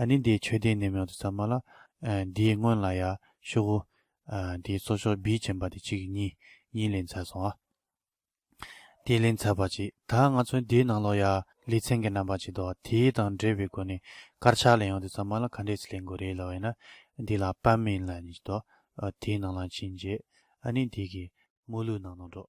ཨ་ནི་འདིའི་མཆོད་རྟེན་ནེམ་ཡོང་དུ་ཚར་མ་ལ། འདིའི་སྔོན་ལ་ཡར་ཤོག་གུ། འདིའི་གཙོ་ཤོག་བིས་བྱིན་པ་དེ་གཅིག་གཉིས་གཉིས་ལེན་ཚར་སོང་ཨ། དེ་ལེན་ཚར་བ་ཅིག་ད་ང་ཚོའི་འདིའི་ནང་ལོགས་ཡར་ལི་ཚན་གྱི་རྣམ་པ་ཅིག་འདུག་དེ་དང་འདྲེས་པའི་སྒོ་ནས་དཀར་ཆག་ལེན་ཡོང་དུ་ཚར་མ་ལ་ག་འདྲས་སུ་ལེན་དགོས་རེད་ལབ་བས་ན་འདི་ལ་པད་མིན་ལ་ནི་ཅིག་འདུག་དེའི་ནང་ལ་ཕྱིན་རྗེས་ཨ་ནི་འདི་གི་དམུ་ལུག་ནང་ནོར་འགྲོ།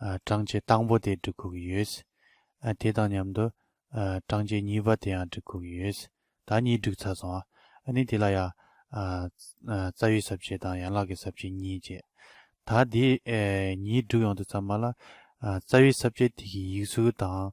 བགྲང་བྱའི་དང་པོ་དེ་འབྲི་ཁུག་ཡོད། དེ་དང་མཉམ་དུ། བགྲང་བྱའི་གཉིས་པ་དེའང་འབྲི་ཁུག་ཡོད། ད་གཉིས་འགྲིག་ཚར་སོང་ཨ། ནི་དེ་ལ་ཡང། རྩ་བའི་ཟབ་ཆོས་དང་ཡན་ལག་གི་ཟབ་ཆོས་གཉིས་བྱས། ད་དེ་གཉིས་འགྲིག་ཡོང་དུས་ཚང་མ་ལ། རྩ་བའི་ཟབ་ཆོས་དེ་གི་ཡིག་ཚུལ་དང།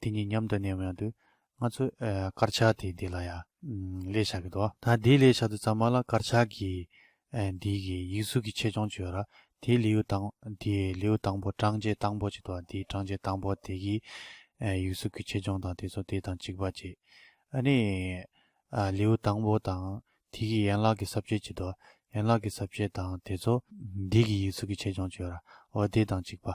དེ་གཉིས་མཉམ་དུ་གནས་མོད་དུས་ང་ཚོས་དཀར་ཆག་དེ་འདི་ལ་ཡང་ལས་བྱ་གི་འདུག་ད་དེའི་ལས་བྱ་དུས་ཚང་མ་ལ་དཀར་ཆག་གི་འདི་གི་ཡིག་གཟུགས་ཀྱི་ཆེད་སྦྱོང་བྱོས་ར་དེའི་ལེའུ་དང་དེའི་ལེའུ་དང་པོ་གྲངས་བཅད་དང་པོ་ཅིག་འདུག་དེའི་གྲངས་བཅད་དང་པོ་དེ་གི་ཡིག་གཟུགས་ཀྱི་ཆེད་སྦྱོང་དང་དེ་ཚོ་དེ་དང་གཅིག་པ་ཅིག་ཨ་ནི་ལེའུ་དང་པོ་དང་དེ་གི་ཡན་ལག་གི་ཟབ་བྱེད་ཅིག་འདུག་ཡན་ལག་གི་ཟབ་བྱེད་དང་དེ་ཚོ་འདི་གི་ཡིག་གཟུགས་ཀྱི་ཆེད་སྦྱོང་བྱོས་ར་འོ་དེ་དང་གཅིག་པ་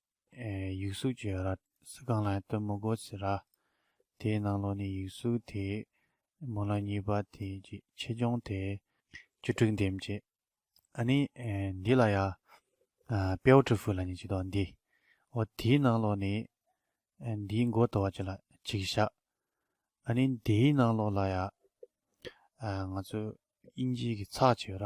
ཡིག་གཟུགས་ཀྱི་ར་སི་ཀང་ལའི་སྟོན་མོ་སྒོ་ཚི་ར། དེའི་ནང་ལོགས་ནི་ཡིག་གཟུགས་དེའི་མོ་ལ་གཉིས་པ་དེ་ཀྱི་ཆེ་ཆུང་དེ། བཅུ་དྲུག་འདེམས་བྱེད། ཨ་ནི། འདི་ལ་ཡ། པའོ་ཀྲི་ཧྥུ་ལ་ནི་ཅི་དོ་འདི། ཨོ་དེའི་ནང་ལོགས་ནི། འདིའི་མགོ་དོ་བ་ཅི་ལ་ཅིག་བཞག། ཨ་ནི། དེའི་ནང་ལོགས་ལ་ཡ། ང་ཚོ་དབྱིན་ཇིའི་གི་ཚགས་ཆེ་བ་ར།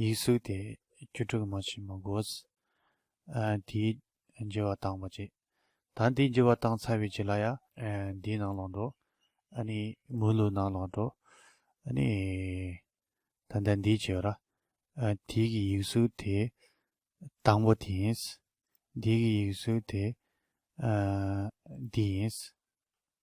ཡིག་གཟུགས་དེ་བཅུ་དྲུག་མ་ཕྱི་མ་དགོས། དེའི་རྒྱུ་བ་དང་བ་ཅི། ད་འདིའི་རྒྱུ་བ་དང་ཚ་བའི་ཇི་ལ་ཡ། འདིའི་ནང་ལོག་འགྲོ། མུ་ལུག་ནང་ལོག་འགྲོ། ད་ལྟ་འདིའི་ཇི་བ་ར། དེའི་གི་ཡིག་གཟུགས་དེ་དང་བ་དེ་ཡིན། འདིའི་གི་ཡིག་གཟུགས་དེ་འདི་ཡིན།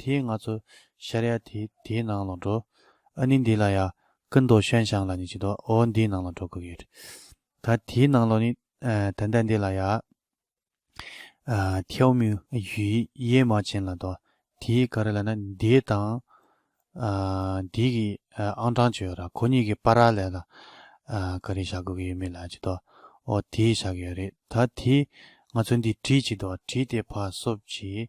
དེས་ང་ཚོ་ཤཱ་རི་ཡ་དེ་དེའི་ནང་ལ་འགྲོ། ཨ་ནི་འདི་ལ་ཡ། ཀི་མདོ་ཤོན་ཤང་ལ་ནི་ཅི་འདོ་ཨོ་འདིའི་ནང་ལ་འགྲོ་དགོས་ཡོད། ད་དེའི་ནང་ལ་ནི། ད་ད་འདི་ལ་ཡ། ཐེའུ་མུའུ། ཡུའི་ཡེ་མ་ཅན་ལ་འདོ། དེའི་ག་རེ་ལ་ན་འདི་དང། འདི་གི་ཨང་གྲངས་བཅོ་ཡོད་ར་ཁོ་གཉིས་ཀྱི་པ་ར་ལས་ལ། ག་རེ་བཞག་དགོས་ཀྱི་ཡོད་མེད་ལ་ཅི་འདོ་ཨོ་དེའི་བཞག་གི་ཡོད་རེད་ད་དེས་ང་ཚོ་འདི་བྲིས་ཅི་འདོ་བྲིས་ཏེ་ཕ་སོབ་ཅིག།